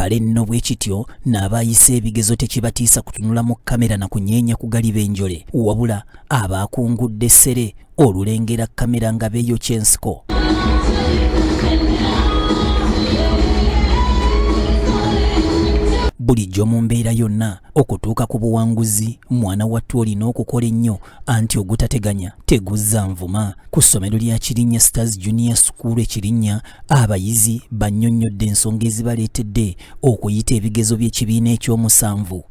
kale nno bwe kityo n'aba ayise ebigezo tekibatiisa kutunula mu kamera na kunyeenya ku galiba enjole wabula aba akungudde ssere olulengera kamera nga beeyokya ensiko bulijjo mu mbeera yonna okutuuka ku buwanguzi mwana wattu olina okukola ennyo anti ogutateganya teguzza nvuma ku ssomero lya Kirinnya Stars Junior School e Kirinnya abayizi bannyonnyodde ensonga ezibaleetedde okuyita ebigezo by'ekibiina ekyomusanvu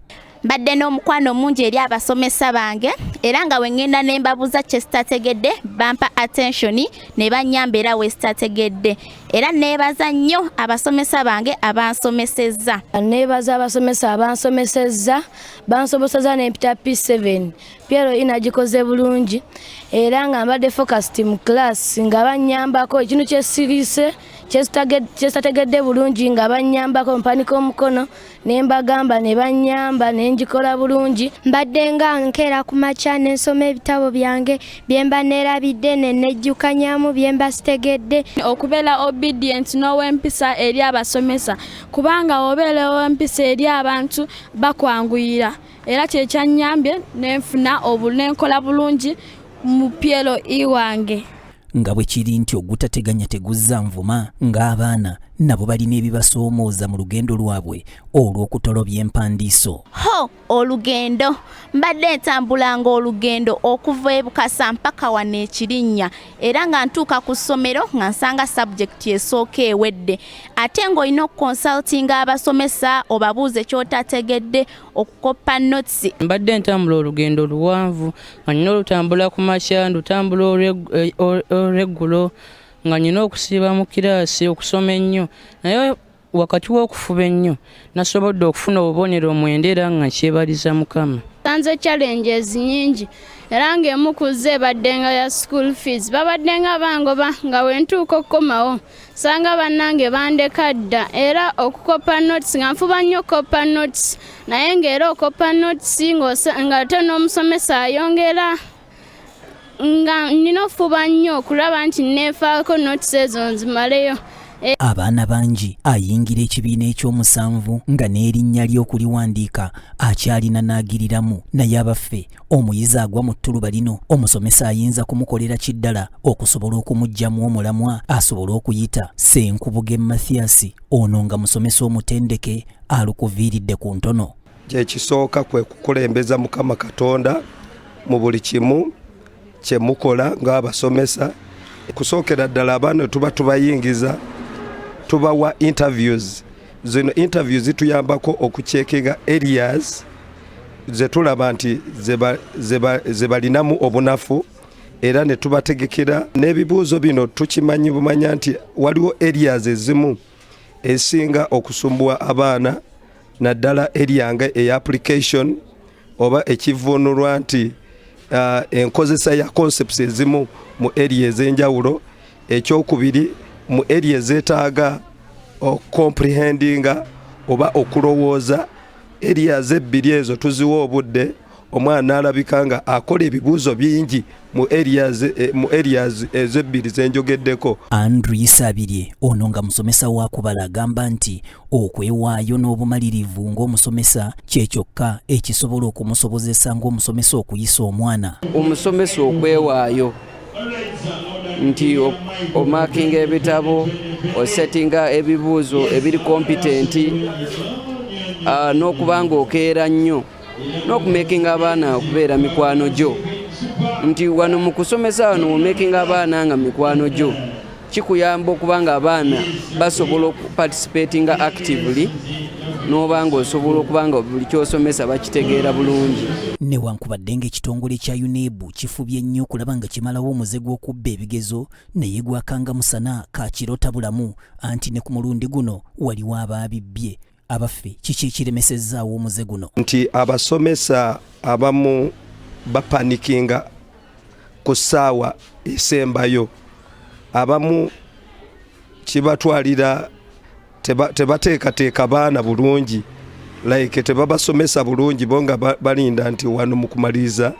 mbadde n'omukwano omungi eri abasomesa bange era nga wengenda ne mbabuuza kye sitategedde bampa attention ne bannyamba era we sitategedde era neebaza nnyo abasomesa bange abansomesezza neebaza abasomesa abansomesezza bansoboseza n'empita p7 Piero ina gikoze bulungi era nga mbadde focused mu class nga banyambako ekintu kyesirise kyesitategedde bulungi nga banyambako mpanika omukono ne mbagamba ne banyamba ne ngikola bulungi mbadde nga nkeera ku makya ne nsoma ebitabo byange bye mba neerabidde ne nejjukanyamu bye mba sitegedde okubeera obedient n'owempisa eri abasomesa kubanga obeera owempisa eri abantu bakwanguyira era kyekyanyambye nenfuna nenkola bulungi mu pyelo iwange nga bwe kiri nti ogutateganya teguzza nvuma ng'abaana nabo balina ebibasoomooza mu lugendo lwabwe olw'okutolobya empandiiso ho olugendo mbadde ntambulanga olugendo okuva ebukasa mpaka wano ekirinnya era nga ntuuka ku ssomero nga nsanga sabjekiti esooka ewedde ate ng'olina okukonsaltinga abasomesa obabuuze kyotategedde okukoppa notsi. Mbadde ntambula olugendo luwanvu nga nina olutambula ku makya ndutambula olweggulo nga nina okusiiba mu kiraasi okusoma ennyo naye wakati w'okufuba ennyo nasobodde okufuna obubonero omwenda era nga nkyebaliza mukama tanze challenges nyingi era ng'emu ku zo ebaddenga ya school fees babaddenga bangoba nga wentuuka okukomawo sanga bannange bandeka dda era okukoppa notes nga nfuba nnyo okukoppa notes naye ng'era okoppa notes nga ate n'omusomesa ayongera nga nina okufuba nnyo okulaba nti neefaako notes ezo nzimaleyo Eh. abaana bangi ayingira ekibiina eky'omusanvu nga n'erinnya ly'okuliwandiika akyalina n'agiriramu naye abaffe Omuyizi agwa mu ttuluba lino omusomesa ayinza kumukolera ki ddala okusobola okumuggyamu omulamwa asobole okuyita? Ssenkubuge Mathias ono nga musomesa omutendeke alukuviiridde ku ntono. Kyekisooka kwe kukulembeza Mukama Katonda mu buli kimu kye mukola ng'abasomesa. Kusookera ddala abaana tuba tubayingiza tubawa interviews Zino interview zituyambako okucekinga areas zetulaba nti zebalinamu obunafu era ne tubategekera n'ebibuuzo bino tukimanyi bumanya nti waliwo areas ezimu esinga okusumbuwa abaana naddala eryanga eya application oba ekivunulwa nti uh, enkozesa ya concepts ezimu mu area ez'enjawulo ekyokubiri mu eri ezetaaga okomprehendinga oba okulowooza erias ebbiri ezo tuziwa obudde omwana alabika nga akola ebibuuzo bingi mu areas eh, ezebbiri zenjogeddeko andrew yisabirye ono nga musomesa wakubala agamba nti okwewaayo n'obumalirivu ng'omusomesa kyekyokka ekisobola okumusobozesa ng'omusomesa okuyisa omwana omusomesa okwewaayo nti omakinga ebitabo osetinga ebibuuzo ebiri kompitenti ah, n'okuba nga okeera nnyo n'okumakinga abaana okubeera mikwano gyo nti wano mu kusomesa wano womakinga abaana nga mikwano gyo kikuyamba okuba nga abaana basobola okuparticipatinga actively n'oba nga osobola okuba nga buli kyosomesa bakitegeera bulungi newankubadde nga ekitongole kya unebu kifubye nnyo okulaba nga kimalawo omuze gw'okubba ebigezo naye gwakanga musana kakirota bulamu anti ne ku mulundi guno waliwo abaabibbye abaffe kiki ekiremesezaawo omuze guno nti abasomesa abamu bapanikinga ku ssaawa esembayo abamu kibatwalira tebateekateeka baana bulungi like tebabasomesa bulungi bo nga balinda nti wano mu kumaliriza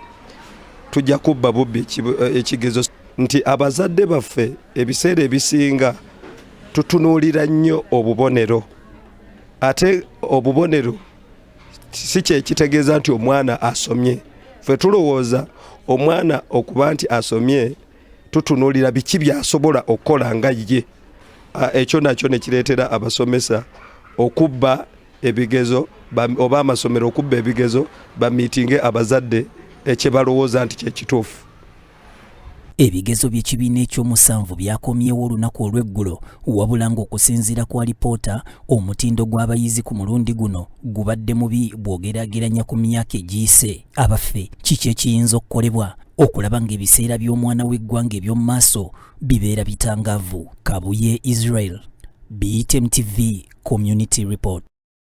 tujja kubba bubbi eh, ekigezo nti abazadde baffe ebiseera ebisinga tutunuulira nnyo obubonero ate obubonero si kyekitegeeza nti omwana asomye fe tulowooza omwana okuba nti asomye tutunuulira biki byasobola okukola nga ye ekyo nakyo nekireetera abasomesa okubba ebigezo oba amasomero okubba ebigezo bamitinge abazadde ekyebalowooza nti kyekituufu Ebigezo by'ekibiina ekyomusanvu byakomyewo olunaku olw'eggulo wabula ng'okusinziira ku alipoota omutindo gw'abayizi ku mulundi guno gubadde mubi bw'ogeraageranya ku myaka egiyise. Abaffe kiki ekiyinza okukolebwa okulaba ng'ebiseera by'omwana w'eggwanga eby'omu maaso bibeera bitangaavu? Kabuye Israel, BTM TV Community Report.